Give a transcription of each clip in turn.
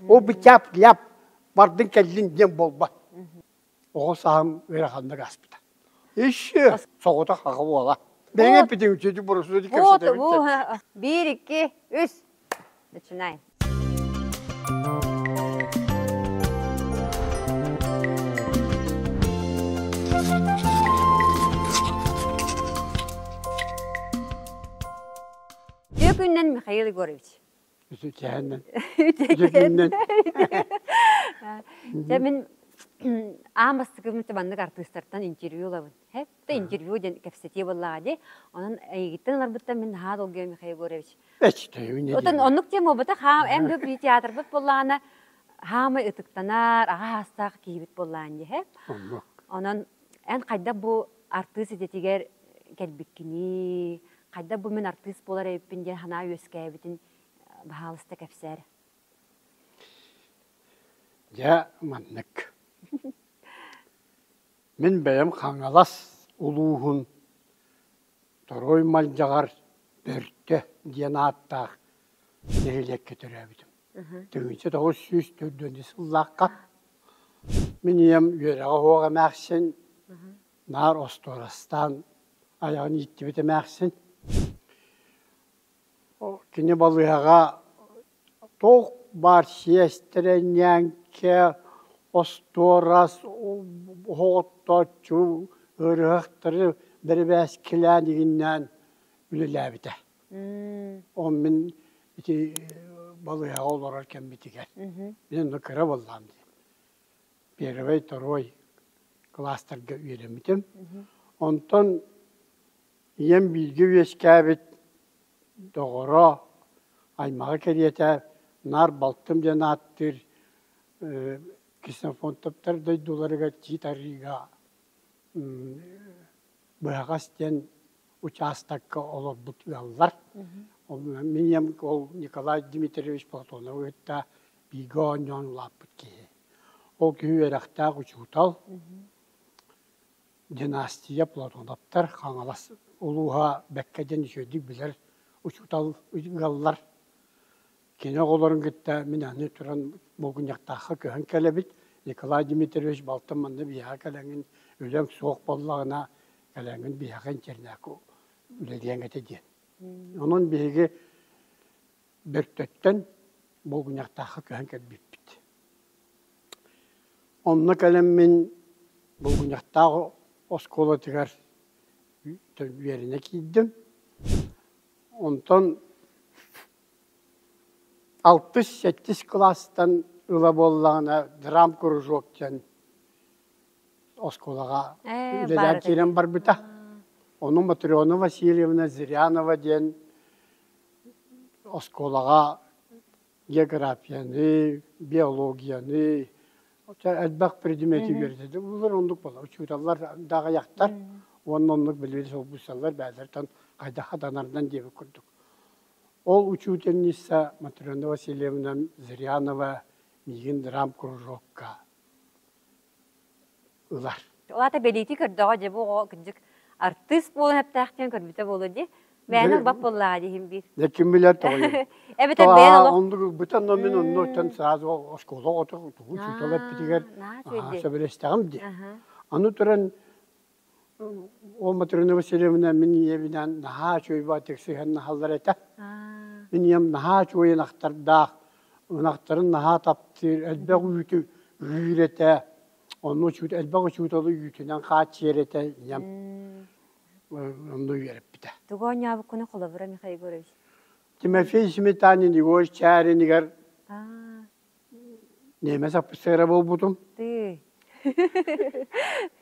Ол бычаап ляп бардыҥ кэллиҥ диэн буолбат. Оҕо сааһым ыараханнык ааспыта. Еще соҕотох аҕа уола. Бэйэҥ эппитиҥ үчүгэйдик буруйсуйду кэпсэтэрбиттэн. Бу биир, икки, үс. Начинай. Түөкүннэн Михаил Егорович. Чэ мин аам бастакыбын маннык артыыстартан интервью ылабын. Хэтта интервью диэн кэпсэтии буоллаҕа дии. Онон эйигиттэн ыларбыттан мин наһаа долгуйа Михаил Егорович. Отон оннук диэн буолбатах хаам эн да би театрбыт буоллаҕына хаамай ытыктанар, аҕа аастаах киһибит буоллаан дии. Онон эн хайдах бу артыыс идэтигэр кэлбиккиний хайдах бу мин артыыс буолар эбиппин диэн санаа үөскээбитин баһаалыста кэпсээр дьэ маннык мин бэйэм хаҥалас улууһун Торой Малдьаҕар Бөртө диэн ааттаах нэһилиэккэ төрөөбүтүм Тыһыынча тоҕус сүүс төрдүөннүү сыллаахха мин ийэм үөрэҕэ оһуох эмээхсин наар остуорастаан айаҕын ииттибит эмээхсин кини балыыһаҕа туох баар сиэс тэрэнньэҥкэ остуорас оһох оттооччу ыарыһахтары бэрибээскилээн игиннээн үлэлээбитэ Ол мин ити балыыһаҕа олорор кэммитигэр мин ону кыра буоллаҕым дии первый второй класстарга үөрэммитим онтон ийэм бииргэ үөскээбит доҕоро аймаҕа кэриэтэ наар балтым диэн ааттыыр ксенофонтоптар дойдуларыгар тиит арыыга быһаҕас диэн учаастакка олорбут ыаллар. Минем ол Николай Дмитриевич Платонову кытта бииргэ оонньоон улааппыт киһи. Ол киһи үөрэхтээх учуутал. Династия Платоновтар Хаҥалас улууһа Бэккэ диэн үчүгэйдик билэр учуутал ыаллар. Кини оҕолорун кытта мин аны туран Булгуньахтаахха көһөн кэлэбит. Николай Дмитриевич балтым манна биһиэхэ кэлэҥин үлэҥ суох буоллаҕына, кэлэҥин биһиэхэ интэрнээккэ үлэлиэҥ этэ диэн. Онон биһиги Бөртөттөн Булгуньахтаахха көһөн кэлбиппит. Онно кэлэммин Булгуньахтаах оскуолатыгар үөрэнэ киирдим. Онтон Алтыс сэттис кылаастан ыла буоллаҕына драмкружок диэн оскуолаҕа үлэлээн киирэн барбыта. Ону Матрена Васильевна Зырянова диэн оскуолаҕа географияны, биологияны, элбэх предмети үөрэтэ. Булар оннук буолар. Учууталлар да аҕыйахтар уонна оннук билиэни солбуйсаллар бэйэлэриттэн хайдах хатанарынан диэбит курдук. Ол учительница Матрена Васильевна Зырянова миигин драмкружокка ылар Ол аата бэлиитии көрдөҕө дьэ бу оҕо кырдьык артыыс буолан эптэх диэн көрбүтэ буолуо дии. Мээнэ ылбат буоллаҕа дии иһин биир. Да ким билэр тоҕойун. Эбэтэр бэйэн олох Оннук бытан но мин оннуттан сразу оскуола оту тугу учуутал эппитигэр аа сөбүлэстэҕим дии. Аны туран Ол Матрена Васильевна мин ийэбинэн наһаа үчүгөйбаатык сыһыаннаһаллар этэ. Мин ийэм наһаа үчүгэй ынахтардаах. Ынахтарын наһаа таптыыр, элбэх үүтү үүр этэ. Онно учуут, элбэх учууталы үүтүнэн хааччыйар этэ ийэм. Онно үөрэппитэ. Тугу оонньообуккуна холобура, Михаил Егорович? Тимофей Сметанин Егорович Чааринигэр Ниэмэ саппыссыара буолбутум. Тыы.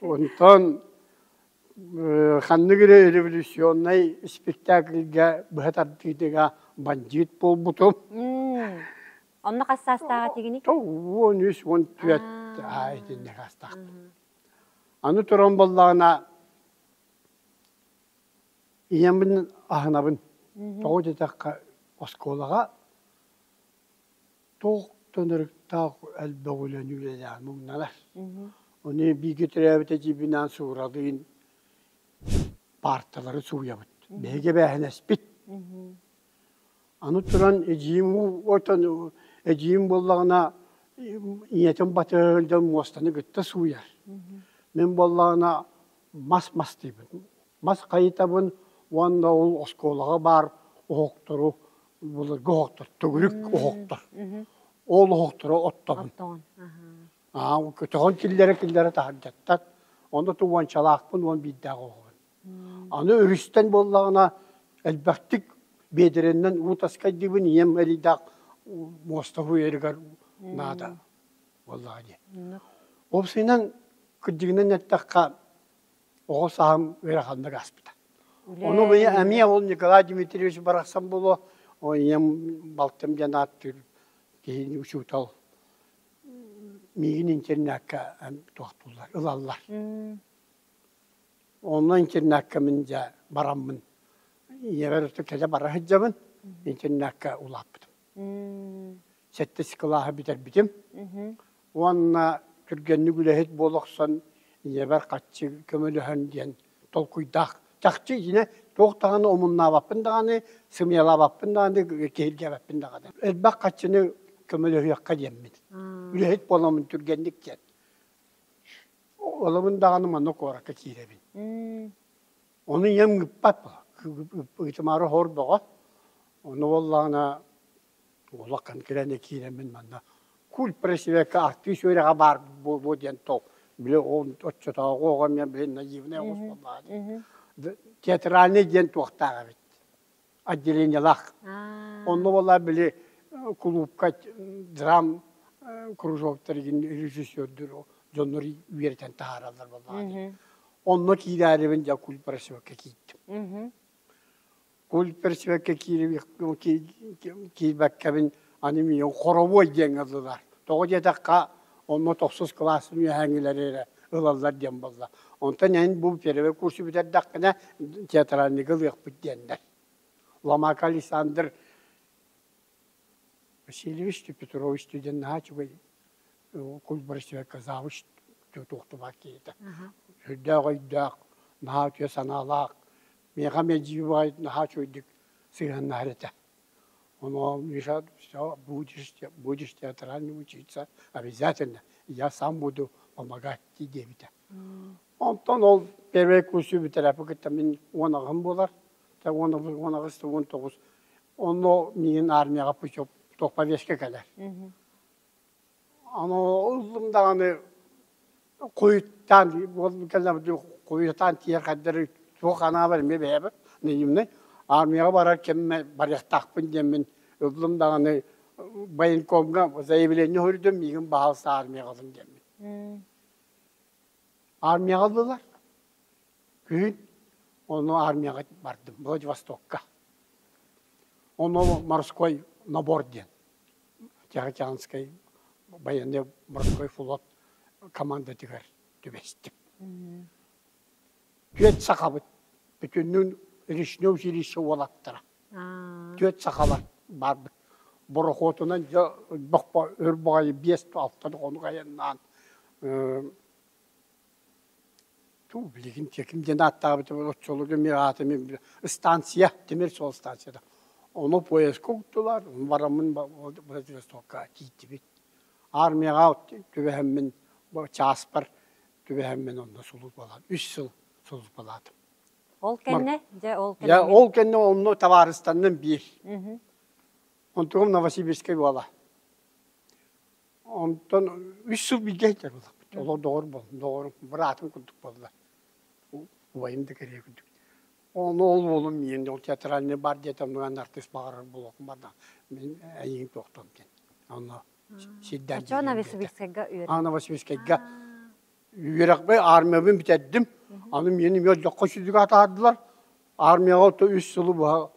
Онтон ханнык эрэ революционнай спектакльга быһа тардыытыга бандьыыт буолбутум. Онно хас саастааҕа тигиний? Уон үс, уон түөрт ааа итиннэ саастаахпын. Аны туран буоллаҕына ийэммин аһынабын. Тоҕо диэтэххэ оскуолаҕа туох да нарыктаах элбэх үлэни үлэлээн муҥнанар ону бииргэ төрөөбүт эдьиийбинаан Сууралыын паарталары сууйабыт биһиги эбээһинэспит аны туран эдьиийим отон эдьиийим буоллаҕына ийэтин батыһыгын муостаны кытта сууйар мин буоллаҕына мас мастыыбын мас хайытабын уонна ол оскуолаҕа баар оһохтору былыргы оһохтор төгүрүк оһохтор ол оһохторо оттоҕун аа көтөҕөн киллэрэ киллэрэ таһырдьаттар онно ту уончалаахпын уон биирдээх оһоҕун аны өрүстэн буоллаҕына элбэхтик биэдэрэннэн уу таскайдыыбын ийэм элийдээх муостабы үйэригэр наада буоллаҕа дии ол сыынан кырдьыгынан эттэххэ оҕо саһым ыараханнык ааспыта. Ону ыйы эмиэ ол Николай Дмитриевич барахсан було ийэм балтым диэн ааттыыр киһини учуутал миигин интернакка туохтууллар ылаллар. Онно интернакка мин дьэ бараммын ийэбэр кэтэ бара сылдьабын интернакка улааппытым. сэттис кылааһы бүтэрбитим. Уонна түргэнник үлэһит буола охсон, ийэбэр хаччы көмөлөһөн диэн толкуйдаах. Чахчы дьине туох даҕаны омуннаабаппын даҕаны, сымыйалаабаппын даҕаны, киһиргээбэппин даҕаны. Элбэх хаччыны көмөлөһүөххэ диэммин. Үлэһит буоламмын түргэнник диэн. Олобун даҕаны манна куоракка киирэбин. Ону ийэм ыппат. Ыытымаары хор бөҕө. Ону уоллаана улахан кирэни киирэммин манна культ пресвека артыыс үөрэҕэ баар буолуо диэн толк били ол оччотооҕу оҕо эмиэ билин наивная особа баар театральный диэн туохтаах эбит отделениелаах онно буола били кулуупка драм кружок тэригин режиссердүр дьоннор үөрэтэн таһаараллар буоллаҕа онно киирээрибин дьэ культ пресвекка киирдим культперсбекке киирбэккэбин аны миигин хоровой диэн ыллылар тоҕо диэтэххэ онно тохсус кылаастын үөһээҥилэри эрэ ылаллар диэн буолла онтон эн бу первый курсу бүтэрдэххинэ театральныйга ылыахпыт диэннэр ломак александр Васильевичтыы Петровичтыы диэн наһаа үчүгэй культбырастыһыкка завуч туохтубат киһитэ. Сүрдээх өйдөөх, наһаа үтүө санаалаах, миэхэ мэлдьи баҕай наһаа үчүгэйдик сыһыаннаһар этэ. Оно Миша все будешь, будешь театральный учиться обязательно, я сам буду помогать дии диэбитэ. Онтон ол первый курсу бүтэрээппи кытта мин уон аҕам буолар. уон тоҕус уон аҕыс уон тоҕус онно миин армияҕа путев туох повестка кэлэр ано ыллым даҕаны куйуттан кэллэбит куйутан тиэрхэрдэри туох анаабар эмиэ бэйэбит наивный армияҕа барар кэммэ барыахтаахпын диэммин ыллым даҕаны военкомҥа заявление көрдüm миигин баһаалыста армияҕа алын диэммин армияҕа ыллылар Күһүн ону армияҕа бардым Владивостокка. Оно морской набор диэн. Тихоокеанскай военный морской флот командатыгар түбэстим. Түөрт сахабыт бүтүннүн Речнев жилище уолаттара. Түөрт сахалар барбыт. Борохуотунан дьэ бохпо өр баҕайы биэс алта тоҕону айаннаан Туу, билигин ким диэн ааттаабыт оччолорго мин аата мин ыстаансыйа, тимир суол ыстаансыйата. Ону поездка уктулар, бараммын Владивостокка тиийдибит. Армияҕа түбэһэммин чааспар түбэһэммин онно сулууспалаатым. Үс сыл сулууспалаатым. Ол кэннэ дьэ ол кэннэ. Дьэ ол кэннэ онно табаарыстанным биир. Онтугум Новосибирскай уола. Онтон үс сыл билгэ сылдьабыт. Олор доҕор буолла, доҕорум, быраатым курдук буолла. Убайым да кэрийэ курдук. Ону ол уолум миэн ол театральный бар диэтэ, онуан артыыс баҕарар буолуохум барда. Мин эйигин туохтан диэн. Онно сирдэр Чо Новосибирскайга үөрэ. А Новосибирскайга Үөрэхпин, аармыйабын бүтэрдим. Аны миэнэ эмиэ олдьоххо сүдүгэ атаардылар. Аармыйаҕа оту үс сылы быһа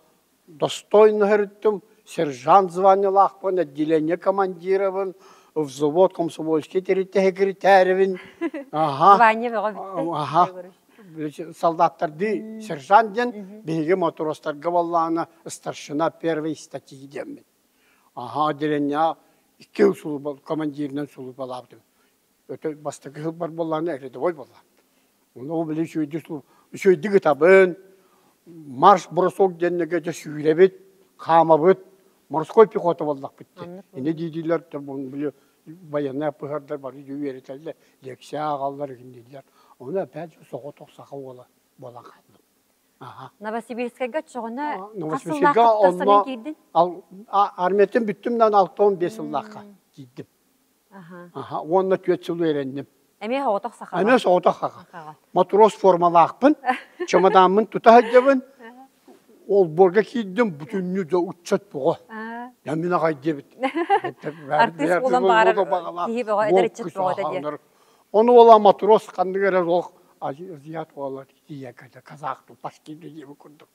достойно өрүттүм. Сержант званиелаахпын, отделение командирабын, взвод, комсомольский тэрилтэ секретаревин. Аха. Звание бөҕө бүттэ. Аха. Солдаттардыы сержант диэн биһиги матростарга баллаана старшина первой статьи диэммит. Аха, отделениеҕа икки сулупа командиринэн сулупалаабытым. өтө бастакы сылбар буоллаҕына рядовой буолла. Ону ол били үчүгэйдик үчүгэйдик ытабын, марш бросок диэннэгэ дьэ сүүрэбит, хаамабыт, морской пехота буоллахпыт. Ини диидилэр били военная пыһардар бары үөрэтэллэр, лекция ааҕаллар игинниилэр. Ону эпэт соҕотох саха уола буолан хаалдым. Новосибирскайга чоҕуна хас сыллаахтыктан самен киирдин? Армиятын бүттүм да алты он бес сыллаахха киирдим. Аха. Уонна түөрт сыл үөрэнним. Эмиэ соҕотох сахаҕа. Эмиэ соҕотох сахаҕа. Матрос формалаахпын, чемодааммын тута сылдьабын. Олборго киирдим, бүтүннүү да ыччат бөҕө. Я мин аҕай диэбит. Артыыс буолан баҕарар киһи бөҕө, эдэр ыччат бөҕө этэ диэн. Ону уола матрос ханнык эрэ олох азиат уола тиийэ казах тупас киирdi диэбит курдук.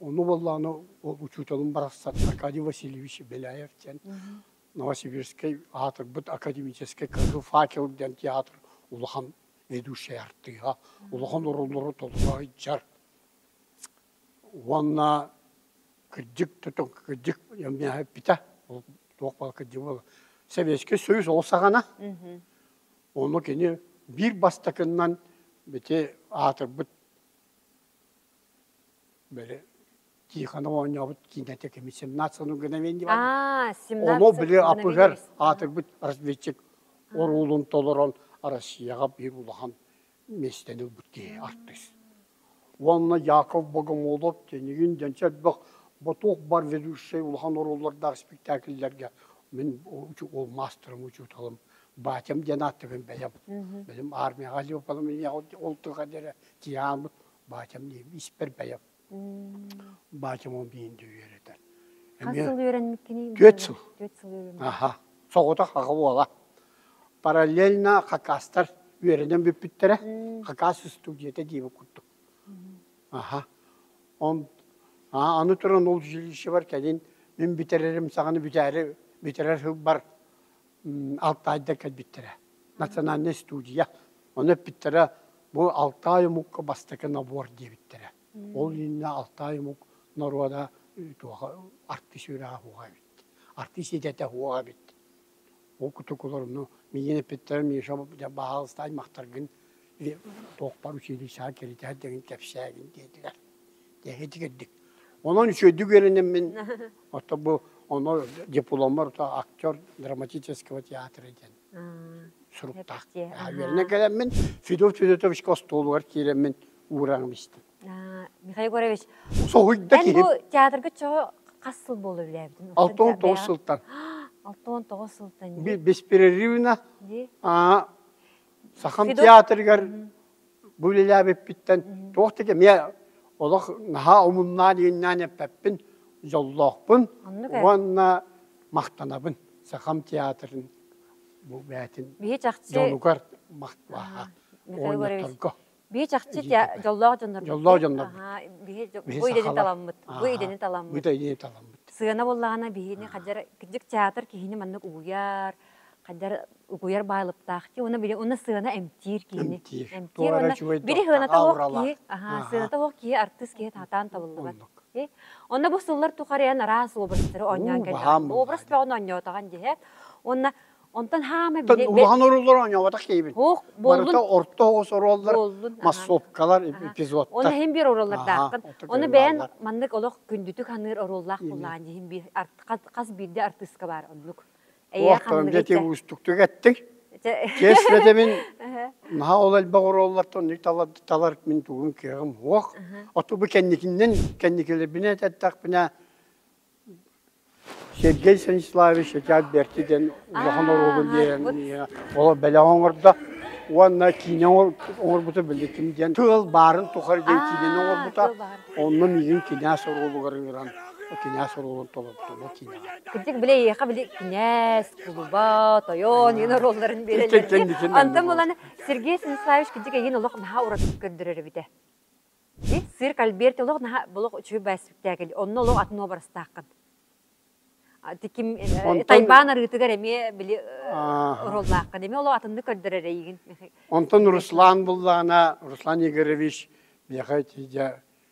Ону буоллаҕына ол учууталым барахсан Аркадий Васильевич Беляев диэн Новосибирскай аатырбыт академическай кыһыл факел диэн театр улахан ведущай артыыһа, улахан оруннору толгойдьар уонна кырдьык тутун кырдьык эппитэ ол туох баар кырдьык буолла Советский Союз ол саҕана ону кини биир бастакыннан бити аатырбыт Били Тихону оонньообут киинэтэ кими семнадцатый гына Ому били апыгар аатырбыт разведчик оруолун толорон Россияга биир улахан миэстэни ылбыт киһи артыыс. Уонна Яков Богомолов тенигин дэнчэ элбэх ботуох бар ведущий улахан оруоллардаах спектакльлерге мин ол мастерым учууталым батям диэн ааттыгын бэйэм. Бэлим армияга Леопольдом ол тыга диэре тиаамыт Баачам диим, испэр бэйэм. Баачам ол биинди үөрэтэр. Хас сыл үөрэммиккиний? Түөрт сыл. Түөрт сыл үөрэммиккин. Аха. Соҕотох аҕа уола. Параллельно хакастар үөрэнэн бүппүттэрэ. Хакас устудьуйата диибин курдук. Аха. Он аны туран ол жилищебар кэлин мин бүтэрэрим саҕана бүтээри бүтэрэр сылбар Алтаайда кэлбиттэрэ. Национальнай студия. Ону эппиттэрэ бу Алтай омукка бастакы набор диэбиттэрэ. Ол иннинэ Алтай омук норуода туоха артист үрэҕэ уһа эбит. Артист идэтэ уһа эбит. Ол кутукуларыны миин эппиттэрэ Миша баһаалыстай махтаргын туохпар училищеҕа киритэр деген кэпсээгин диэтилэр. Эһитигэрдик. Онон үчүгэйдик үөрэнэммин, оттон бу оно дипломмар актер драматического театра диэн суруктаах. Үөрэнэн кэлэммин, Федот Федотовичка остуолугар киирэммин уураҕым истим. Михаил Егорович, эн бу театрга чоҕо хас сыл буола үлээбитин? Алта он тоҕус сылтан. Алта он тоҕус сылтан. Беспрерывно Сахам театрыгар бу үлэлээбиппиттэн туох да кэмиэ олох наһаа омуннаан ииннээн эппэппин дьоллоохпун уонна махтанабын сахам театрын бу бээтин дьонугар махталаһа оонньоторго бии чахчы дьоллоох дьоннорбут дьоллоох дьоннорбут бу идэни таламмыт бу идэни таламмыт бу идэни таламмыт сыана буоллаҕына биһини хадьар кырдьык театр киһини маннык угуйар хайдах угуйар баалыптаахтыы уонна били уонна сыана эмтиир киһини эмтиир эмтиир уонна били сыаната суох киһи аһаа сыаната суох киһи артыыс киһи сатаан табыллыбат онно бу сыллар тухарыйан араас образтары оонньоон кэллэҕин образ бөҕүн оонньоотоҕун дии уонна онтон хаама били улахан оруоллар оонньооботох киһибин барыта орто оҕус оруоллар массовкалар эпизодтар онно иһин биир оруоллардаахтан ону бэйэн маннык олох күндүтүк ханыыр оруоллаах буоллаан иһин биир хас биирдэ артыыска баар оннук Туохтан дети уустуктук эттиҥ. Чэс бэтэмин наһаа ол элбэх оруоллартан талар мин тугун кыаҕым уох. Оту бу кэнникиннен кэнникилэрбинэ этэттэхпинэ Сергей Станиславович Чачаат Берти диэн улахан оруолун диэн ол бэлэҕи оҥордо уонна киинэ оҥорбута биллитим диэн тыал баарын тухары диэн киинэни оҥорбута онно миигин кинээс оруолугар ыыран кинээс оруолун толордуна кинэҕэ. Кырдьык били эйиэхэ били кинээс, тулуба, тойон энэ оруолларын биэрэллэр. Антон буланы Сергей Станиславович кырдьык эйин олох наһаа уратык көрдөрөр эбитэ. Сирк Альберт олох наһаа олох үчүгэй бай спектакль. Онно олох атын образтааххын. Ти ким тайбаан арыытыгар эмиэ били ороллааххын. Эмиэ олох атынны көрдөрөр эйигин. Онтон Руслан буллаана, Руслан Игоревич, бияха тиде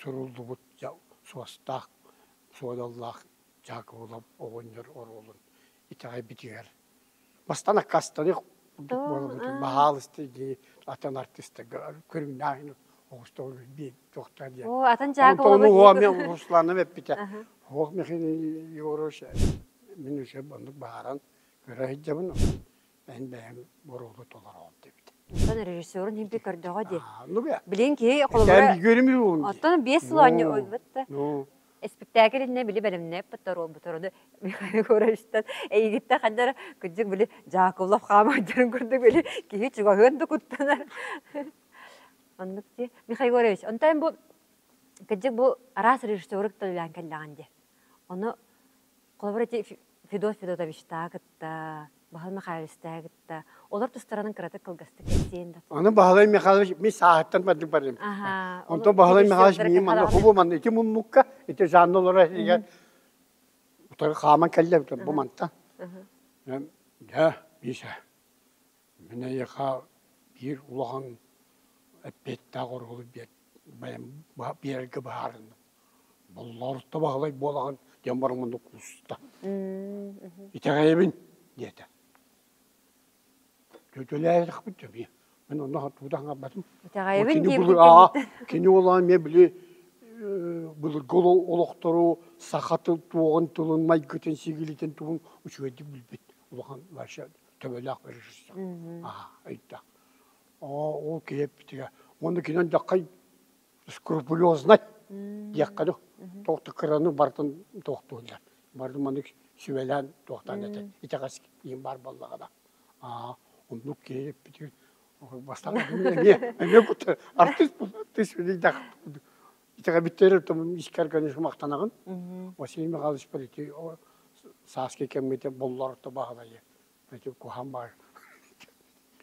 суруллубут дьа суостаах суодаллаах Дьаакыбылап оҕонньор оруолун итэҕэйбитигэр мастан аккаастаныах курдук буоламмытын баһаалысты дии атын артыыстарга көрүҥнээһин оҕустаҕа билбиэ туохтаа диэн оо атын Дьаакыбылабы Антону Русланым эппитэ оһох мехин Егорович мин өсө оннук бааран көрө сылдьабын Эн бэйэм боруоду толороон диэбит. Оттон режиссерун химпи көрдөҕө дии. Ну бе. Билин киһи холобура Кэн билгэрим уун. оттон биэс сыл оонньо өлбүт да. Ну. Испэктээкил иннэ били бэлэмнээппит торуолбуторуну Михаил Гуревичтан эйигиттэ ханнара кыддык били Жаковлов хаамайдарын курдук били киһи чугаһыан да куттанар. Оннук ти Михаил Гуревич, онтон бу кыддык бу араас режиссерик толуйаан кэллэҕин дии. Ону Холобура, ити Федот Федотовичтааҕы кытта Баһылай Михайловичтааҕы кытта олор тустарынан кыратык кылгастык кэпсиэн да Аны Баһылай Михайлович мин сааһыттан бардым барым. Аха, Онто Баһылай Михайлович миигин манна хубу манна ити муннукка, ити жанна олорор этигэр утары хааман кэллэ бу мантан. Дьэ, Миша, мин эйиэхэ биир улахан эппиэттээх оруолу биэрэргэ быһаарынным. Булларуста Баһылай буолаҕын диэн баран муннук кууста. Итэҕэйэбин диэтэ. Тютюлээтэхпит дьэ Мен онно хатуута хаппатым. Итэҕэйэбин диэбит Кини олоон мен били былыргы олохтору саха тыл туоҕун тылын майгытын сигилитин тугун учуйдик билбит улахан вообще төбөлөөх режиссер. Аха ыйда. Оо ол киэппитигэ. Уонна кинен даккай скрупулезнай диэххэ ну туох да кыраны барытын туохтуурдар бары маннык сүбэлээн туохтаан этэ итэҕэс иин баар буоллаҕына аа оннук киһи бүтүн бастаан эмиэ эмиэ кута артыыс тыс билдэх итэҕэбиттэрэ тумун искэр көніс махтанаҕын Василий Михайлович полити сааскы кэммите боллорто баһылайы Ити куһам баар.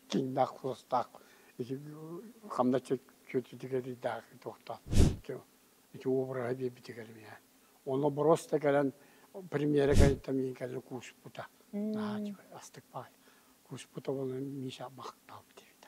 Чиҥнээх, суостаах, ити хамна чөчүтүгэрийдээх туохтаах ити ити обраһы биэрбитигэр миэхэ. Онно бороос да кэлэн премьерэ кэнниттэн миин кэлэн кууспута. Наһаа астык баҕайы. Кууспута буолан Миша махтаабыт эбитэ.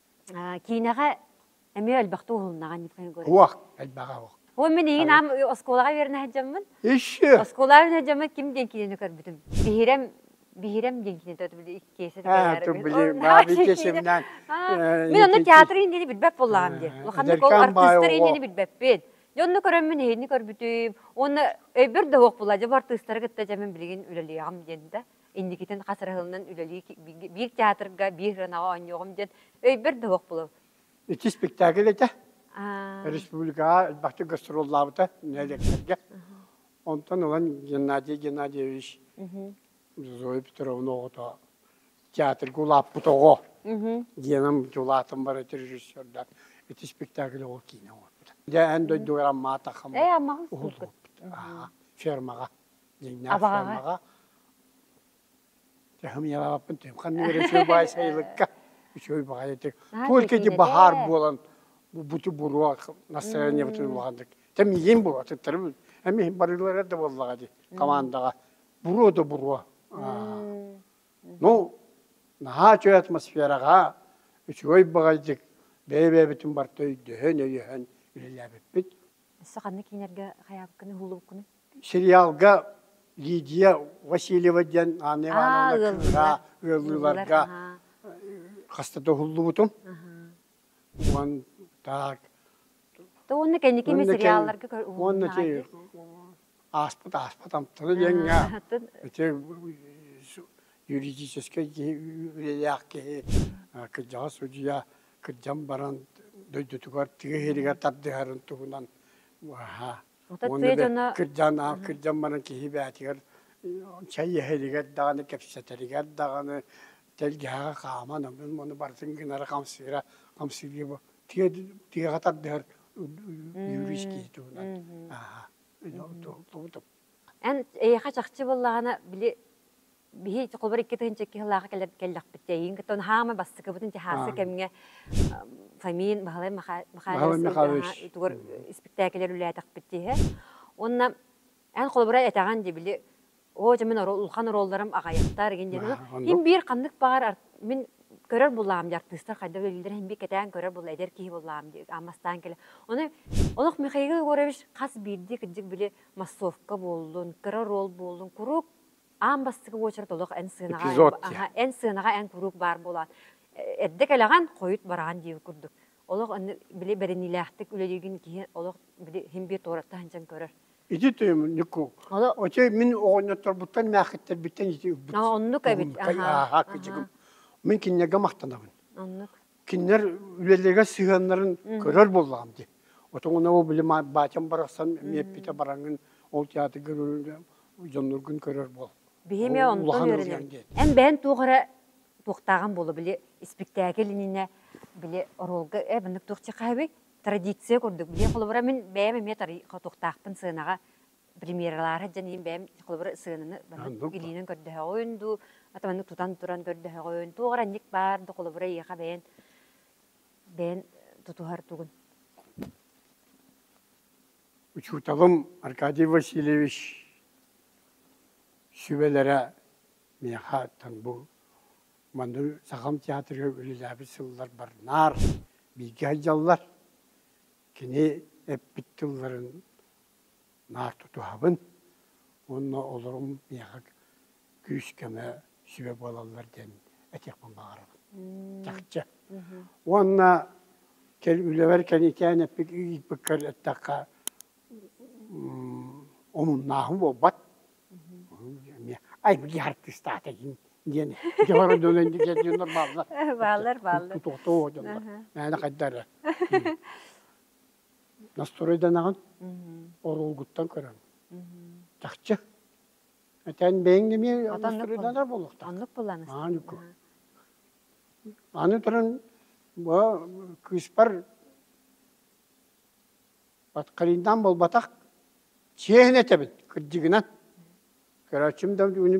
киинэҕэ эмиэ элбэхтик уһулуннаҕа Николай Егорович. Уох, элбэҕэ уох. Ол мин эйигин аам оскуолаҕа үөрэнэ сылдьаммын. Иши. Оскуолаҕа үөрэнэ сылдьаммын ким диэн киинэни көрбүтүм? Биһирэм Биһирэм диэн киинэтэ өтүбүт иккиэсэ Мин онно театр иһиниини билбэт буоллаҕым дии. Ханнык ол артыыстар иһиниини билбэппин. Дьонно көрөммүн иһиини көрбүтүм. Уонна өйбөр да уох буолла. Дьэ бу артыыстары кытта дьэ мин билигин үлэлиэҕим диэн да. инникитин хас рыһылынан үлэлии биир театрга биир ырынаҕа оонньуоҕум диэн өйбөр да суох булу ити спектакль этэ республикаҕа элбэхтик гастроллаабыта нэлектергэ онтон ылан геннадий геннадьевич зоя петровна оҕото театрга улааппыт оҕо диэним улаатан барыт режиссердар ити спектакль оҕо киинэ оҥорбута дьэ эн дойдугар аммаата хаммат э аммаҕын фермаҕа Абаҕаҕа. Тыһым яваппын түм ханныгар үчүгэй баай сайылыкка үчүгэй баҕайы тик только эти баһаар буолан бути буруа настроение бутун улааннык тэм иин бу атыттарым эми иһин барыылара да буоллаҕа ди командаҕа буруо да буруо ну наһаа үчүгэй атмосфераҕа үчүгэй баҕайдык бэйэ бэйэбитин барта өйдөһөн өйөһөн үлэлээбиппит Өссө ханнык киинэргэ хайаабыккыны, уһуллубуккуну? Сериалга Лидия Васильева диэн Анна Ивановна кыыһа ыаллыыларга хаста да уһуллубутум. Уон так. То уонна кэнники эмэ сериалларга уһуллуна. Уонна ти ааспыт ааспыт амтаны диэҥҥэ ити юридическай киһи үлэлээх киһи кырдьаҕас судьуйа кырдьан баран дойдутугар тыа иһиригэр тардыһарын туһунан уһаа уонна кырдьан кырдьан баран киһи бээтигэр чай иһиригэр даҕаны кэпсэтэригэр даҕаны тэлгэһэҕэ хааман ону барытын гынара хамсыыра хамсыырыы бу тыаҕа тардыһар үөрүүс киһи туһунан аха Эн эйиэхэ чахчы буоллаҕына, били биһи холобур икки тыһыынча икки сыллааҕы кэлэр кэллэхпит дии, эйигин кытта хаамай бастыкыбытын чаһаарса кэмҥэ Фомин Баһылай Михайлович тугар испиктээкилэр үлээтэхпит дии. Уонна эн холобура этэҕин дии, били оо дьэ мин улахан оруолларым аҕайахтар игин диэн иһин биир ханнык баҕар мин көрөр буллаҕым дии артыыстар хайда үлэлииллэр иһин биир кэтээн көрөр булла эдэр киһи буллаҕым дии ааммастаан кэлэ. Ону олох Михаил Егорович хас биирдии кырдьык били массовка буоллун, кыра ролл буоллун, куруук аан бастакы уочарат олох эн сыанаҕа эн, эн сыанаҕа эн куруук баар буолаат эрдэ кэлэҕин хойут бараҕын диир курдук олох аны били бэриниилээхтик үлэлиигин киһи олох били химбиэ туораттан сынчан көрөр Иди Нику, оте мин оҕонньотторбуттан мээхиттэрбиттэн ити ылбыт. Оннук эбит. Аха. Мин киннэгэ махтанабын. Оннук. кинилэр үлэлэргэ сыһыаннарын көрөр буоллаҕым дии. Отуҥуна бу били баачам барахсан эмиэппитэ бараҥын ол театрга дьонноргун көрөр буол. Биһиэме онтон үөрэнэм. Эн бэһэн туох эрэ туохтааҕын буола били испиктээкил иннинэ били оруолга э быннык туох чехаһыби традиция курдук билиэн холобура мин бэйэм эмиэ тары хотуохтаахпын сыанаҕа премьералаах дьэниим бэйэм холобур сыананы илиинэн көрдөһөҕүн дуу атаманы тутан туран көрдөһөҕүн туох ранник баар да холобура ийэха бэйэн бэйэн тутуһар тугун учууталым Аркадий Васильевич сүбэлэрэ миэхэ бу манны сахам театрыгар үлэлээбит сыллар барнаар бииргэ айдьаллар кини эппит тылларын наар тутуһабын уонна олорум миэхэ күүс-көмө сүбэ буолаллар диэн этиэхпин баҕарабын чахчы уонна үлэбэр кэнитээн эппик ыйыппыккар эттэххэ омуннааһын буолбат айбыги артистаат egin диэн дьоҕор дөнөн диэн бааллар бааллар бааллар тутуохтоо дьонно мээнэ хайдара Настроиданаҕын оруолгуттан көрөҥ. Чахчы. Этэн бэйэҥ эмиэ настроидана буолуохтаах. Оннук булан астына. Аны туран бу кыыспар баткалиндан болбатах чиэһин этэбин кырдьыгынан. Көрөөччүм да уну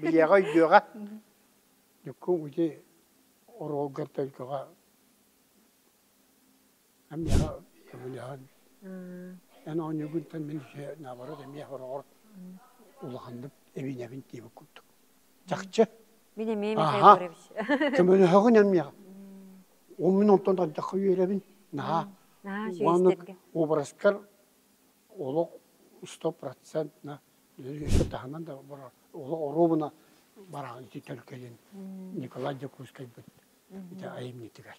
билиэҕэ өйдүөҕэ. Дьуккум ити оруолгар төлкөҕө Эмиэхэ көмөлөһөн, эн оонньуугунтан мин үсүһэ наоборот эмиэх ороҕор улаханнык эбиинэбин диэбит курдук. Чахчы. Мин эмиэ Михаил Егорович. Көмөлөһөҕүн эмиэхэ. Он мин онтон ардахха үөрэбин. Наһаа. Наһаа үчүгэйдик. Уобараскар олох сто процентно үсө таһынан да барар олох оруобуна бараҕын ити төлкөлүн Николай Дьокуускайбыт ити айымньытыгар.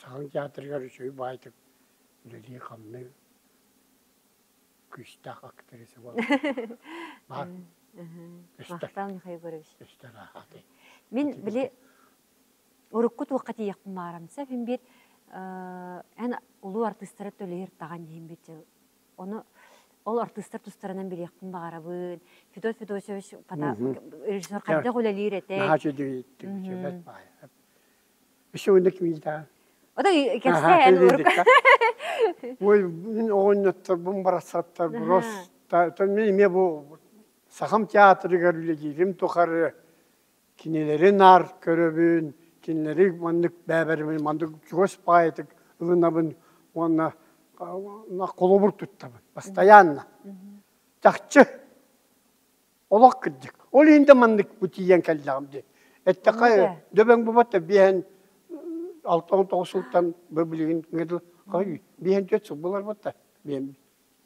Саха театрыгар үчүгэй баайтык үлэлии-хамныы күүстээх актриса буолла. Баар. Мақтан Михаил Егорович. Өстөр аахаты. Мин били урукку туохқа тиийэхпин маарамса, фимбит эн улуу артыыстары төлөйөр таган дихимбит оны ол артыыстар тустарынан билиэхпин баарабын Федот Федосович режиссер хайдах үлэлиир этэ Сегодня квита. Ота кэксэ эн урук. Ой, мин оҕонньотторбун барахсаттарбын рос эмиэ бу Сахам театрыгар үлэлиирим тухары кинилэри наар көрөбүн, кинилэри маннык бэбэримин маннык чугас поэтик ылынабын уонна холобур туттабын постоянно. Чахчы олох кырдьык. Ол иһин да маннык бутийэн кэллэҕим дии. Эттэххэ, дөбөҥ бубата биэһэн алта он тоҕус сылтан быбылыгын кыгыл хой биэһэн түөт сыл булар бутта биэм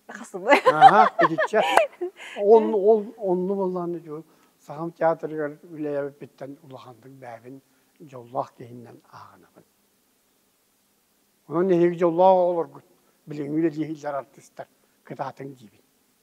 хасыбы аха итиччэ он ол онну боллааны жу сахам театрыгар үлэйэбиппиттэн улаханнык бээбин дьоллоох киһиннэн ааҕынабын онон эһиги дьоллоох оҕолоргут билиҥҥи үлэлииһиллэр артыстар кытаатыҥ диибин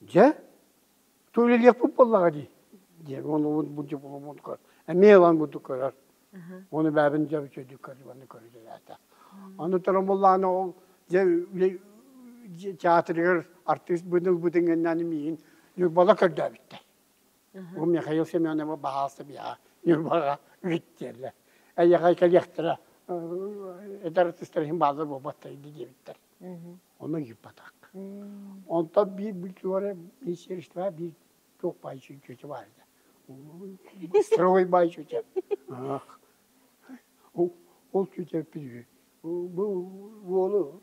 Дьэ, туйлиехпут буоллаҕа дии, диэн уонубут буддьугуммутугар эмиэ ылан бурдук көрөр уону бэйэбин дьэ үчүгэйдик көрдүм аны көрүдэлээтэ аны туран буоллаҕына ол дьэ театрыгар артыыс быһын ылбытын кэннэ аны миигин Ньурбала көрдөөбүттэр Ол Михаил Семеновы баһаалта биһа Ньурбаҕа үгүттиэллэр. Эйэҕэй кэлиэхтэрэ эдэр артыыстар иһин бааллар буолбаттар indi диэбиттэр. Ону ыйыппатах. Онтон биир бультуора министерство биир туох бай чүчүтү бар еді. Строй бай чүтэ. Ол чүтэ бу уолу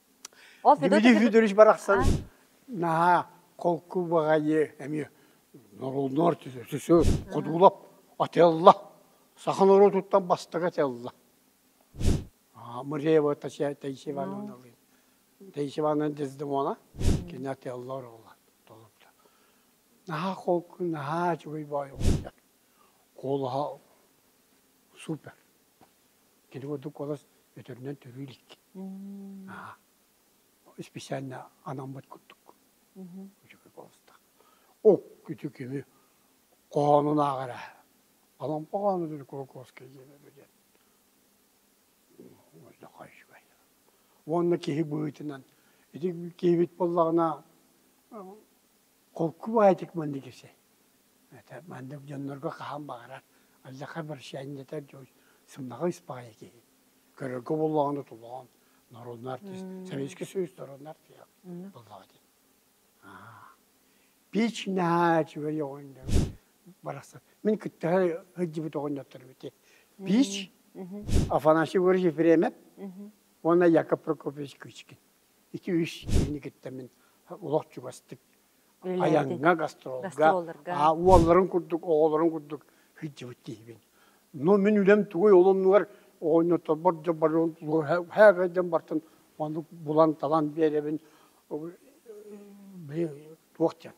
Дмитрий Федорович барахсан наһаа холку баҕайы эмиэ норуоннуор кудуулап атылла саха норуотуттан бастакы атылла Муреева Таисия Ивановна Таисия Ивановна Дездемона кини атылла оруола толупта наһаа холку наһаа үчүгэй баай оҕуйдак куолаһа супер Ити курдук олус өтөрүнэн төрүүр икки. Наһаа исписээннэ анаммыт курдук. Үчүгэй болустах. Ок ити кими хоонунааҕар ээ. Алампа хоонутун Кулаковскай диэн диэн. Олохо үчүгэй. Уонна киһи быһыытынан ити киһибит буоллаҕына холку баайдык маннык ise это маннык дьоннорго хаһан баҕарар алдьархай обращаниета дьон сымнаҕа испаҕайа киһи көрөргө буоллаҕына тулаҕан норуонна артист Советский Союз норуонна артист буоллаҕа дии пич наһаа үчүгэй оҕонньор барахсан мин кытта сылдьыбыт оҕонньотторум ити пич Афанасий Григорьевич Ефремов уонна Яков Прокопович Кычкин 2-3 киинигиттэн мин олох чугастык айаҥҥа, гастролга уолларын курдук, оҕолорун курдук сылдьыбыт киһибин. Но мин үлэм тугуй ол оннугар оонньоторбор дьоборун һээгэйдэн бартын маннык булан талан биэрэбин туох диэн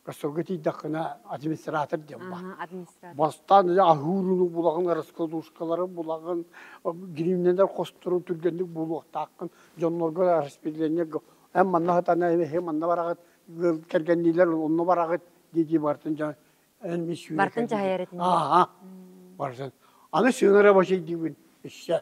Ростовга тиийдэххинэ администратор диэн баар. Бастаан ыйа аһыырыны булаҕын, раскладушкалары булаҕын, гривнелэр хостору түргэнник булуохтааххын, дьоннорго распределение эн манна сатана эһи манна бараҕыт, кэргэнниилэр онно бараҕыт дии-дии барытын дьон эн мин сүүрэ Бартын дьаһайар этин. Ааха. Барытын. Аны сыына рабочай диибин. Isse.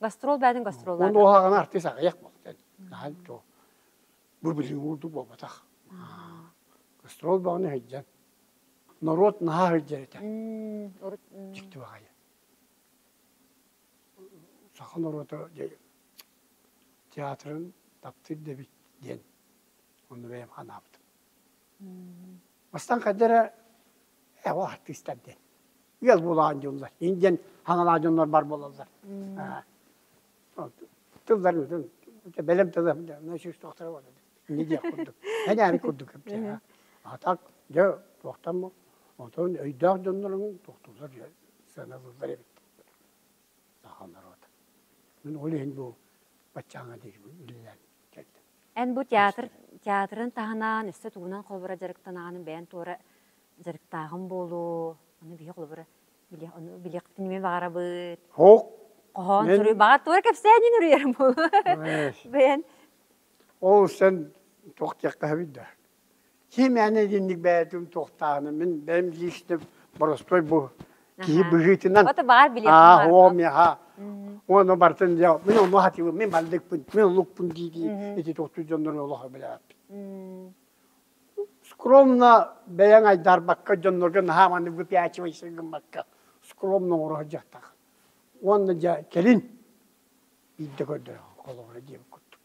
Гастрол бээтин гастроллар. Ол оһаҕаны артист аҕыйах болтен. Хаһан то бу-били уурду буолбатах. Гастрол бөҕөнү һыйдьан. Норуот наһаа һыйдьар этэ. Дикти баҕайы. Саха норуота театрын таптыыр дэбит диэн онну бэйэм ханаабытым. Бастан қаддера эво артистар диэн. ыал буолаан дьоллор. Ин диэн хаҥалаа дьоннор бар буолаллар. Тылларын бэлэм тылы сүүстөөхтөрө бар. Инни диэх курдук. Энээри курдук кэпсэһэ. Атак дьэ туохтан оттон өйдөөх дьоннорун тохтуулар сыаналыыллар эбит. саха норуот. Ол иһин бу баччааҥҥа диирбин үлэлээн кэллим. Эн бу театр театрын таһынан өссө тугунан холбура дьарыктанаҕын бэйэн туора дьарыктааҕын буолуо ону биһи холобура билиэх ону билиэхпитин эмиэ баҕарабыт Оһ, хоһоон мен суруйбаҕа туора кэпсээнин уруйарым буолуо бэйэн ол сэн туох диэххэ бит да Ким эн итинник бэйэтин туохтааҕын мин бэйэм личным боростой бу киһи быһыытынан Ото баар билиэххэ аа баар. оо миэхэ уону бартын дьэ мин ону хатыыбын мин маллыкпын мин лукпун дии дии ити токтуу дьоннору олохо билээппин скромно бэйэҥ айдарбакка дьоннорго наһаа маны выпячивайся гыммакка скромно оҥоро дьахтах уонна дьэ кэлин биирдэ көрдөрө холобура диэбит курдук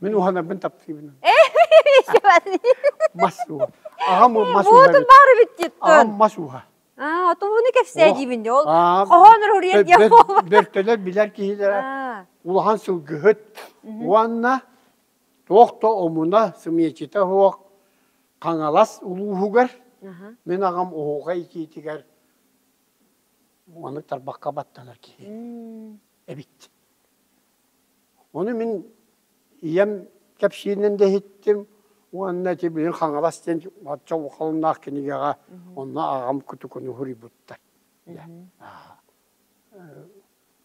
Мин уһанарбын таптыыбын. Мас ууһа. Аҕам мас ууһа. Буутун баары бүттүт. Аҕам мас ууһа. Аа, отовуну кэпсээ диибин дэ. Ол хоһоонор уруйан диэх бөртөлөр билэр киһилэрэ улахан сылгыһыт уонна туох да омуна, сымиэчитэ суох Хаҥалас улууһугар мин аҕам оһуоха икиитигэр маннык тарбахха баттанар киһи эбит. Ону мин ийэм кэпсииринэн да иһиттим уонна ити билигин Хаҥалас диэн оччо улаханнаах кинигэҕэ онно аҕам кутукуну суруйбуттар.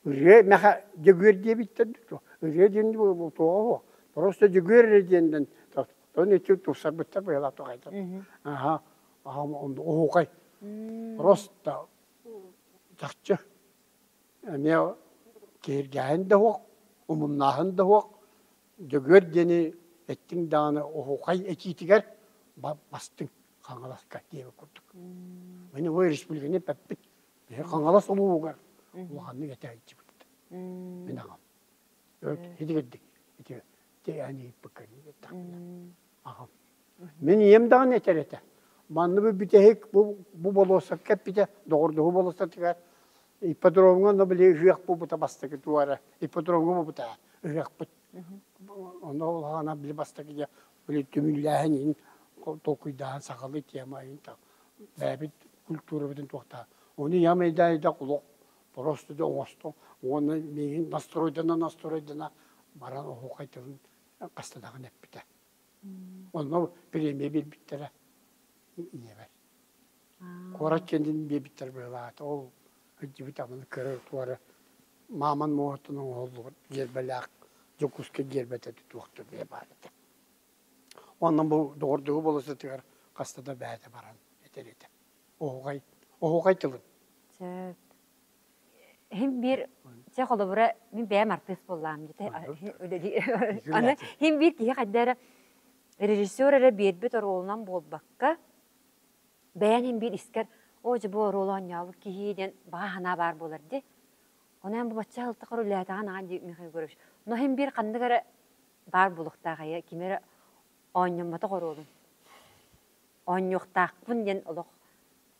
Ырыа мэхэ Дьөгүөр диэбиттэр дуо? Ырыа диэн туоҕа уо? Просто Дьөгүөр эрэ диэннэн тону ити тупсарбыттар быһалаах тоҕайтан. Аха оһуокай. Просто чахчы. эмиэ киһиргээһин да суох, умуннааһын да суох, Дьөгүөр диэни эттиҥ даҕаны оһуохай этиитигэр бастыҥ Хаҥаласка диэбит курдук. Мин бу республиканы эппиппит биһи Хаҥалас улууһугар улаханнык этэ илдьибит. Мин аҕам. Итигирдик ити тиээн ыыппыккын Аһым. Мин ийэм даҕаны этэр этэ. Манна бу бүтэһик бу, бу болуоссакка эппитэ доҕордоһуу болуоссатыгар ипподромҥа но били ыһыах буолбута бастакы туора ипподромҥа буолбута ыһыахпыт. Онно улаана били бастакы дьэ били түмүллээһин иһин толкуйдааһын сахалыы тема иһин так бэйэбит культурабытын туохтаа оны ямайдаайдак олох просто да оҥостон уонна миигин настройдана настройдана баран оһуохай тылын хастанаҕын эппитэ. Онно премия биэрбиттэрэ ийэбэр. Куорат кэннин биэрбиттэр быһылаата. Ол өйдүбүт аманы көрөр туора мааман муоһуттан оҥоһуллубут гербэлээх Дьокуускай гербэтэ туохта бэйэ баар этэ. Онон бу доҕордуһу бола сытыгар хаста да бэйэтэ баран этэр этэ. Оһугай, оһугай тылын. Сөп. Һин биир чэ холобура мин бэйэм артыыс буоллаам дьэ аны һин биир киһи хайда эрэ режиссер эрэ биэрбит оруолунан буолбакка бэйэн һин биир искэр оо дьэ бу оруолу оонньообут киһи диэн баҕа санаа баар буолар дии ону эн бу бачча аһылтахар улаатаҕын аҕа дии Михаил Егорович но һин биир ханнык эрэ баар буолуохтаах эйэ ким эрэ оонньоммотох оруолун оонньуохтаахпын диэн олох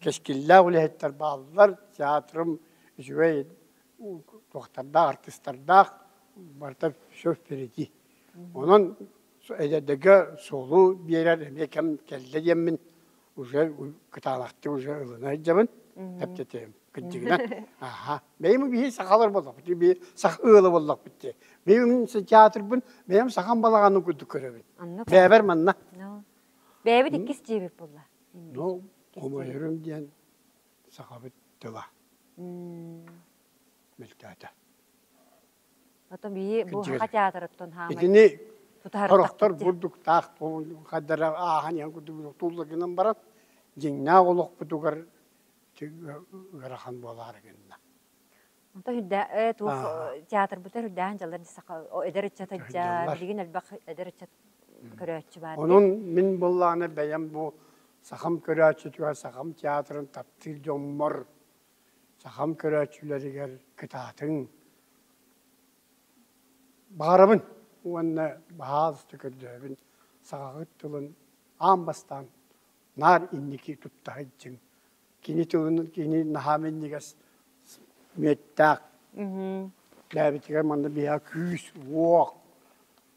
Кэскиллээх үлэһиттэр бааллар, театрым үчүгэй туохтардаах, артыстардаах, барыта все впереди. Онон эдэрдэргэ суолу биэрэр эмиэ кэм кэллэ диэммин уже кытаалахтык уже ылына илдьэбин, тэптэтиэм. Кырдьыгынан, аха, бэйим биһи сахалар буоллахпыт, биһи саха ыала буоллахпыт дии. Бэйим театрбын, бэйэм сахам балаҕанын курдук көрөбүн. Бэйэбэр манна. Бэйэбит иккис дьиэбит буолла. Ну, хомойорум диэн сахабыт тыла мөлтөөтө. Потом биһи бу саха театырыттан хаамай Итини хорохтор бурдуктаах хаддара аахан иһэн курдук тулла гынан баран дьиҥнээх олохпутугар ыарахан буолаары гынна. Онто үрдээн э туох театрбытын үрдээн дьаллар саха эдэр ыччата дьа билигин элбэх эдэр ыччат көрөөччү баар Онон мин буоллаҕына бэйэм бу сахам көрөөччүтүгэр сахам театрын таптыыр дьоммор сахам көрөөччүлэригэр кытаатыҥ баҕарабын уонна баһаалыста көрдөөбүн саҕаҕыт тылын аан бастаан наар инники туттаһыйдьыҥ Кини тылын кини наһаа минньигэс мүөттээх. Тээбитигэр манна биһа күүс, уох,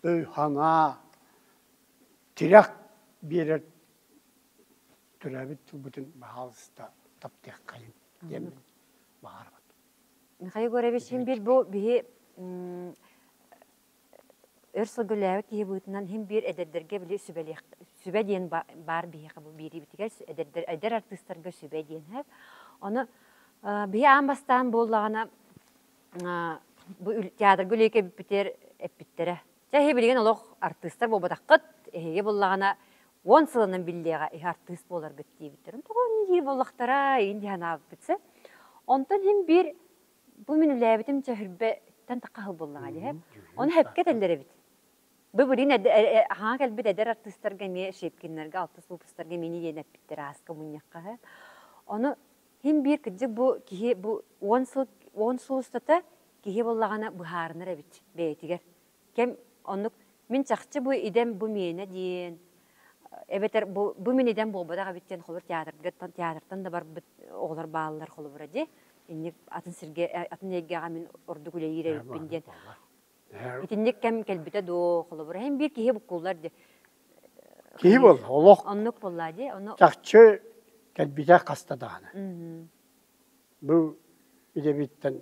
өй-санаа, тирэх биэрэр төрөөбүт тылбытын баһаалыста таптыаххайын диэммин баҕарабын. Михаил Егорович, син бил бу биһи өр сылгылээбит киһи быытынан иһин биир эдэрдэргэ били сүбэлиэх сүбэ диэн баар биһиэхэ бу биэриибитигэр эдэрдэр эдэр артыыстарга сүбэ диэнэ ону биһи аан бастаан буоллаҕына бу театрга үлэйикэ эппитэр эппиттэрэ чэ иһи билигин олох артыыстар буолбатаххыт эһиги буллаҕына уон сылынан биллиэҕэ иһи артыыс буоларгыт диэбиттэр тоҕо ини дии буоллахтара иһин диһэн ааппыт онтон иһин биир бу мин үлээбитим чөһүрбэттэн тахаһыл буоллаҕа дии ону сөпкө этэллэр эбит бу билигин аһаҕа кэлбит эдэр артыыстарга эмиэ Щепкиннэргэ алтыс лупустарга эмиини диэн эппиттэр ааска мунньахха ону хин биир кырдьык бу киһи бу уон сыл уон сыл устата киһи буоллаҕына быһаарынар эбит бэйэтигэр кэм оннук мин чахчы бу идэм бу миэнэ диэн эбэтэр бу бу мин идэм буолбатах эбит диэн холобур театрга театртан да барбыт оҕолор бааллар холобура дии инник атын сиргэ э, атын эйгэҕэ мин ордук үлэлиир эбиппин диэн итинник кэм кэлбитэ доо холобура һин биир киһи буккуллар дии киһи бол олох оннук болла дии ону чахчы кэлбитэ хаста даана бу идэбиттэн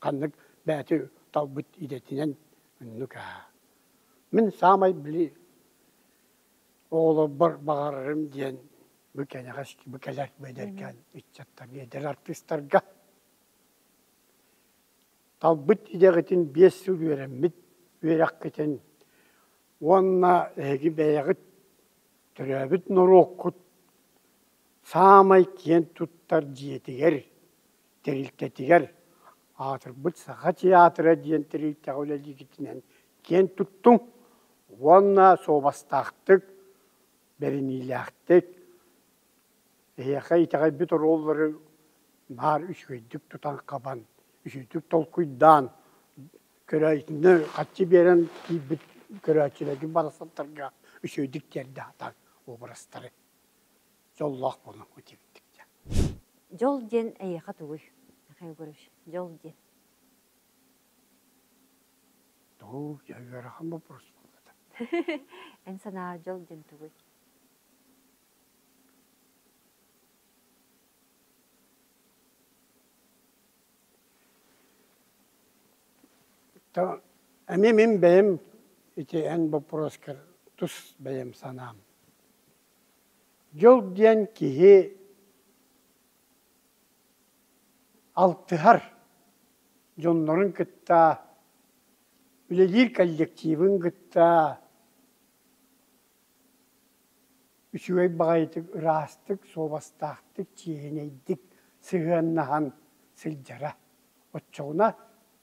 ханнык бэйэти талбыт идэтинэн иннук аа. Мин саамай били оҕолорбор баҕарарым диэн бу кэнэҕэс бу кэлэр бэдэркээн ыччаттар эдэр артыыстарга талбыт идэҕитин биэс сыл үөрэммит үөрэххитин уонна эһиги бэйэҕит төрөөбүт норуоккут саамай киэн туттар дьиэтигэр тэрилтэтигэр аатырбыт Саха театра диэн тэрилтэҕэ үлэлиигитинэн киэн туттуҥ уонна суобастаахтык, бэриниилээхтик, эһиэхэ итэҕэйбит оруоллары баар үчүгэйдик тутан-хабан, үчүгэйдик толкуйдаан, көрөөччүнү хаччы биэрэн киирбит көрөөччүлэргин барахсаттарга үчүгэйдик тиэрдэ сатаан уобарастары. дьоллоох буолан утибиттик дьэ дьол диэн эйиэхэ тугуй михаил егорович дьол диэн дуу я ыарахан боппуруос буолла да эн санааҕар дьол диэн тугуй то эмиэ мин бэйэм ити эн боппуруоскар тус бэйэм санаам Дьол диэн киһи алтыһар дьоннорун кытта үлэлиир коллективын кытта үчүгэй баҕайытык ыраастык, суобастаахтык, чиэһинэйдик сыһыаннаһан сылдьара. Оччоҕуна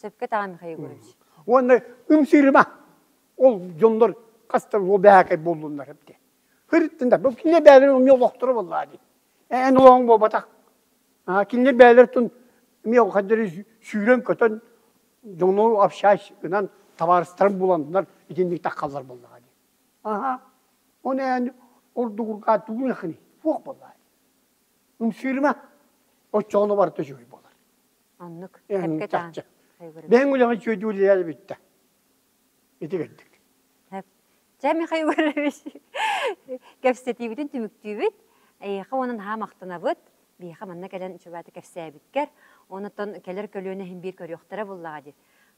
Сөпкө даҕаны Егорович. Уонна ымсыырыма. Ол дьоннор хастар ол бэһэкэй буоллуннар эбитэ. Хырыттында, бу кинилэр бэйэлэрин эмиэ олохторо боллаа дии. Эн олоҕуҥ буолбатах. Кинилэр бэйэлэр тун эмиэ хаддары сүүрэн-көтөн дьону общаюсь гынан табаарыстарын буланнар итинник таххаллар боллаа дии. Аха. Оны эн ордугурга тугун ахыны. Фух боллаа. Умсыырыма. Оччоҕуна барыта үчүгэй болар. Аннык чахчы. Бэһин үлэҕэ үчүөйдүүллэр бүттэ. Ити кэлдик. Чэ, Михаил Иванович, кэпсэтиибитин түмүктүүбүт. Эйиэхэ уонан хаһаам махтанабыт. Биһиэхэ манна кэлэн чугаата кэпсээбиткэр. Онон кэлэр көлүөнэ иһин биир көрүөхтэрэ буоллаҕа дии.